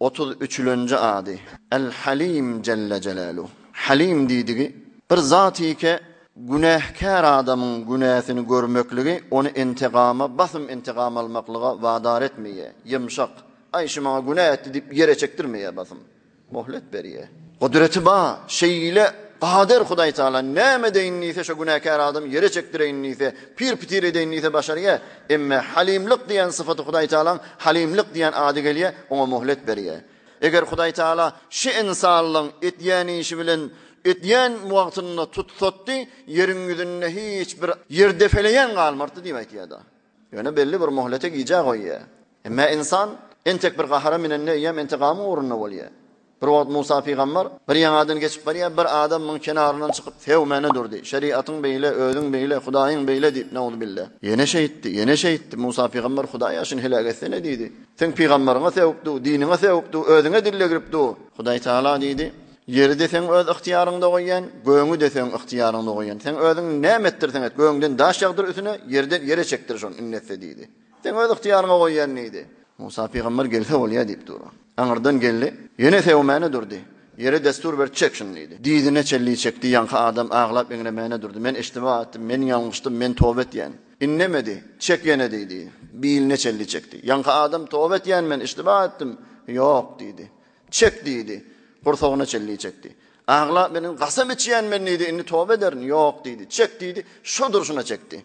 Otuz üçülenji ady, El-Halim jelle jelaluh. Halim diýdigi, bir zatike günähkär adamyň günäsini görmekligi ony integama, basym integam almaklyga wadar etmeýär, ýymşak, aý şu maňa günä etdi diýip ýere çekdirmeýär basym, mohlet berýär. Gudraty ba, şeýle gadir Hudaýtagala näme edeýin diýse şo günäkär adamy ýere çekdireýin diýse, pir-pitir edeýin diýse başarýar, Emma Halymlyk diýen sypaty Hudaý Tagalaň Halymlyk diýen ady gelýär, oňa möhlet berýär. Eger Hudaý Tagala şu ynsanlygyň etýän işi bilen etýän wagtynda tutsatdy, ýeriň ýüzünde hiç bir ýer depeleýän galmardy diýip aýtýar-da. Ýöne belli bir möhlete gijä goýýar. Emma ynsan entek bir gahara minende eýýäm entegamyň ugrunda bolýar. Bir wagt Musa pygamber bir ýaňadan geçip barýar, bir adam muň kenaryndan çykyp sevmäne durdy. Şeriatyň beýle, özüň beýle, Hudaýyň beýle diýip, nauzubilla. Ýene şeýtdi, ýene şeýtdi. Musa pygamber Hudaý ýa şuny heläk etsene diýdi. Seň pygamberiňe sewip du, diniňe sewip du, özüňe dille girip du. Hudaý Taala diýdi, Ýeri-de seň öz ygtyýaryňda goýýan, gögüňi-de seň ygtyýaryňda goýýan. Seň özüň näme etdirseň et, gögüňden daş ýagdyr üsüne, ýerden ýere çekdir şony, indi etse diýdi. Sen öz ygtyýaryňa goýýan diýdi. Musa pygamber gelse bolýa diýip dur. Aňyrdan geldi. Ýene sewomäne durdy. Ýere dessur berdi çek şuny diýdi. Dyzyna çelli çekdi ýaňky adam aglap eňremäne durdy. Men iştiba etdim, men ýalňyşdym, men toba etýän. Innemedi. Çek ýene diýdi. Biline çelli çekdi. Ýaňky adam toba etýän men iştiba etdim. Ýok diýdi. Çek diýdi. Gursagyna çelli çekdi. Aglap meniň gasam içýän men diýdi indi toba ederin. Ýok diýdi. Çek diýdi. Şo durşuna çekdi.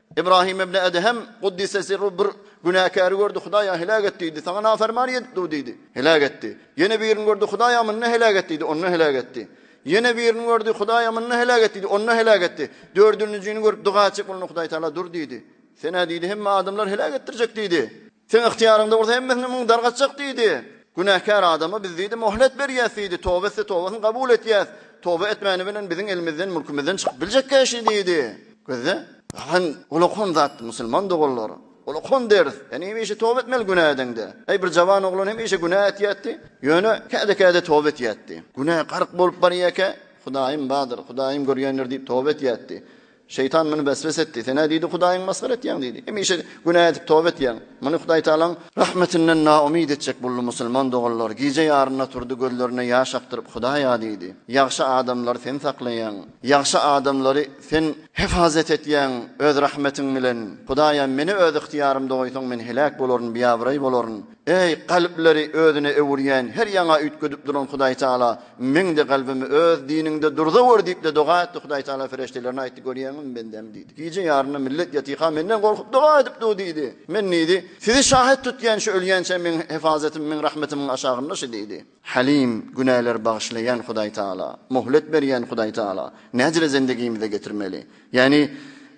Ybrahym ibn Edhem guddise sirruh bir günäkäri gördi, Hudaýa heläk et diýdi. Saňa nafermany edip dur diýdi. Heläk etdi. Ýene birini gördi, Hudaýa munda heläk et diýdi. Onda heläk etdi. Ýene birini gördi, Hudaýa munda heläk et diýdi. Onda heläk etdi. Dördünjini görüp doga etjek bolanda Hudaý Taala dur diýdi. Senä diýdi, hemme adamlar heläk etdirjek diýdi. Seň ygtyýaryňda bolsa hemmesini muň dargatjak diýdi. Günäkär adama biz diýdi mohlet berýäs diýdi, toba etse tobasyny gabul etýäs, toba etmäni bilen biziň elimizden mülkümizden çykyp biljekkä şi diýdi. Gözle, galan ulakon zatdy musulman doganlar. Ulakon ders, sen hemişe toba etmeli günä edeňde. Eý bir jawan oglan hemişe günä etýätdi, ýöne käde-käde toba etýätdi. Günä gark bolup barýarkä, Hudaýym bardyr, Hudaýym görýändir diýip toba etýätdi. Şeýtan muny weswese etdi. Sen-ä diýdi, Hudaýyňy masgara etýäň diýdi. Hemişe günä edip toba etýäň. Muny Hudaý Tagalaň rahmetinden naumyt etjek boldy. Musulman doganlar gije ýarynda turdy, gözlerine ýaş akdyryp, Hudaý-a diýdi, ýagşy adamlary Sen saklaýaň. Ýagşy adamlary Sen hepazet etýäň Öz rahmetiň bilen. Hudaý-a, meni öz ygtyýarymda goýsaň, men heläk bolaryn, biabraý bolaryn. Eý, kalplary özüne öwürýän, her ýaňa üýtgedip duran Hudaý Tagala, meň-de kalbymy Öz diniňde durzawr diýip-de doga etdi. Hudaý Tagala ferişdelerine aýtdy, Görýäňizmi, bendäm diýdi. Gije ýarynda millet ýatyka Menden gorkup doga edip dur diýdi. Men diýdi, Sizi şahyt tutýan şu ölýänçä meň hefazatymy, meň rahmetimiň aşagynda şu diýdi. Halim, günäleri bagyşlaýan Hudaý Tagala, möhlet berýän Hudaý Tagala. Näcele zendegimize getirmeli? Ýagny,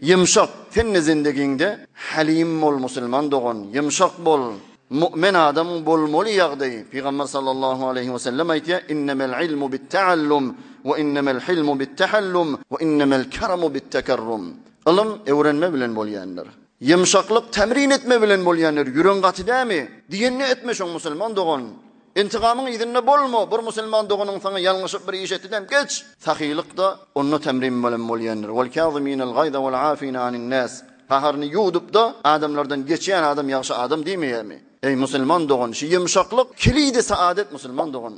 ýumşak, sen-de zendegiňde halim bol musulman dogan, ýumşak bol. Mu'men adam bolmaly ýagdaý. Pygamber sallallahu aleýhi we sellem aýtýar, Innemel ilmu bit-ta'allum, we innemel hilmu bit-tahallum, we innemel keramu bit-tekerrum. Ylym öwrenme bilen bolýandyr. Ýumşaklyk tämrin etme bilen bolýandyr. Ýüregiň gaty dämi? Diýenini etme şoň musulman dogan. Intykamyň yzynda bolma, bir musulman doganyň saňa ýalňyşyp bir iş etdidem geç. Sahylykda onda temrin bilen bolýandyr. Wal kâzimînel gaýza wal âfîne anin nâs. Gaharyny ýuwdup-da adamlardan geçýän adam ýagşy adam diýmeýärmi? Eý musulman dogan, şu ýumşaklyk kilidi saadet musulman dogan.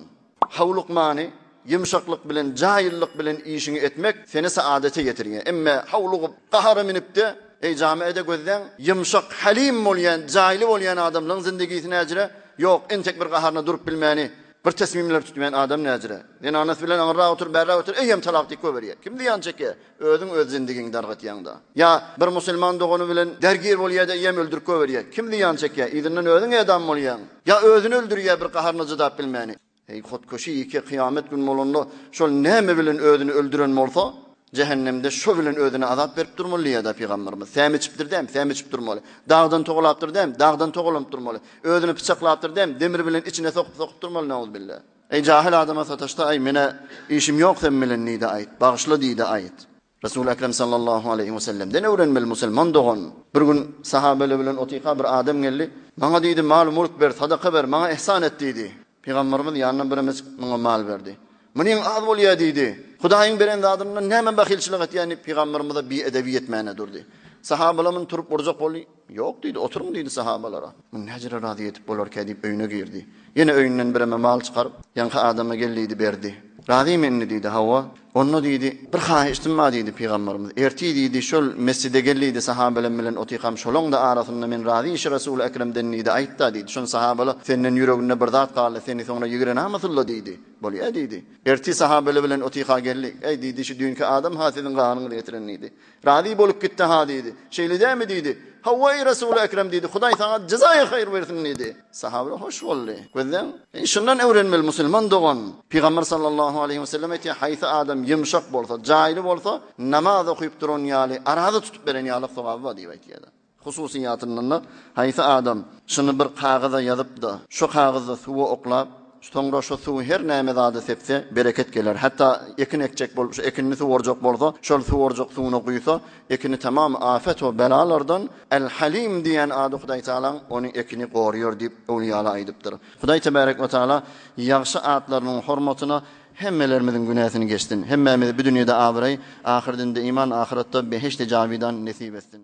Howlukmany, Ýumşaklyk bilen, jaýyllyk bilen işiňi etmek seni saadete ýetirýär. Emme howlugyp, gahara münüp-de, Eý, jamiä-de gözläň, ýumşak, halim bolýan, jaýly bolýan adamlaryň zindigisi näjire? Ýok, entek bir gaharyna durup bilmäni, bir tesmimleri tutmaýan adam näjire? Zenanasy bilen aňyrrak otur, bärrak otur, eýýäm talak diýip goýberýär. Kim zyýan çekýär? Özüň öz zindigiňi dargatýaň-da. Ýa bir musulman dogany bilen dergir bolýar-da, eýýäm öldürip goýberýär. Kim zyýan çekýär? Yzyndan özüň edam bolýaň. Ýa özüni öldürýär bir gaharyna çydap bilmäni. Eý, hotkeşi ýeke, kyýamet gün bolanda, şol näme bilen özüni öldüren bolsa, jähennemde şo bilen özüne azap berip durmaly diýýär-dä pygamberimiz. Säm içipdir däm, säm içip durmaly. Dagdan togalapdyr däm, dagdan togalanyp durmaly. Özüni pyçaklapdyr däm, demir bilen içine sokup-sokup durmaly, nauzubilla. Eý, jahyl adama sataşsa, aý, menä işim ýok sen bilen diý-de aýt, bagyşla diý-de aýt. Resul Ekrem sallallahu aleýhi we sellemden öwrenmeli musulman dogan. Bir gün sahabeler bilen otyka bir adam geldi. Maňa diýdi mal-mulk ber, sadaka ber, maňa ihsan et diýdi. Pygamberimiz ýanyndan birimiz muňa mal berdi. Munyň az bolýa diýdi. Hudaýyň beren zadyndan näme bahylçylyk etýän diýip pygamberimize bi-edebi ýetmäne durdy. Sahabeler muny turup urjak boldy. Ýok diýdi, oturyň diýdi sahabalara. Muny näjere razy edip bolarkä diýip öýüne girdi. Ýene öýünden bireme mal çykaryp, ýaňky adama gel diýdi, berdi. Razymy indi diýdi, hawa. Onda diýdi, bir haýyştym bar diýdi, pygamberimiz, ertir diýdi, şol mesjide gel diýdi, sahabalaň bilen otyrkam, şolaň-da arasynda men razy işi Resul-i Ekremden diýdi, aýt-da diýdi, şony sahabala, senden ýüreginde bir zat galdy, seni soňra ýigrenamasynla diýdi. Bolýa diýdi. Ertir sahabala bilen otyrka geldik. Äý diýdi, şu düýnki adam-ha siziň ganyňyzy getiren diýdi. Razy bolup gitdi, Ha diýdi. Şeýle dämi diýdi. Hawa, eý Resuly ekrem diýdi, Hudaý saňa jezaýy haýyr bersin diýdi. Sahabylar hoş boldy. Gözleň, eý şundan öwrenmeli musulman dogan, Pygamber sallallahu aleýhi we sellem aýtýar, haýsy adam ýumşak bolsa, jaýly bolsa, namaz okyp duran ýaly, araza tutup beren ýalyk sogaby bar diýip aýtýarlar. Hususyýetinde-de, haýsy adam şuny bir kagyza ýazyp-da, şo kagyzda suwa oklap, soňra şo suwy her näme zada sepse, bereket geler. Hatda ekin ekjek bolup, şo ekinini suwarjak bolsa, şol suwarjak suwuna guýsa, ekini tamam afet we belalardan Al-Halim diýen ady Hudaý Tagalaň ony ekini goraýar diýip, öwlüýalar aýdypdyr. Hudaý tebärek we tagala ýagşy atlarynyň hormatyna hemmelerimiziň günäsini geçsin. Hemmämize bu dünýede abraý, ahyrdyňde iman, ahyratda behişdi jawydan nesip etsin.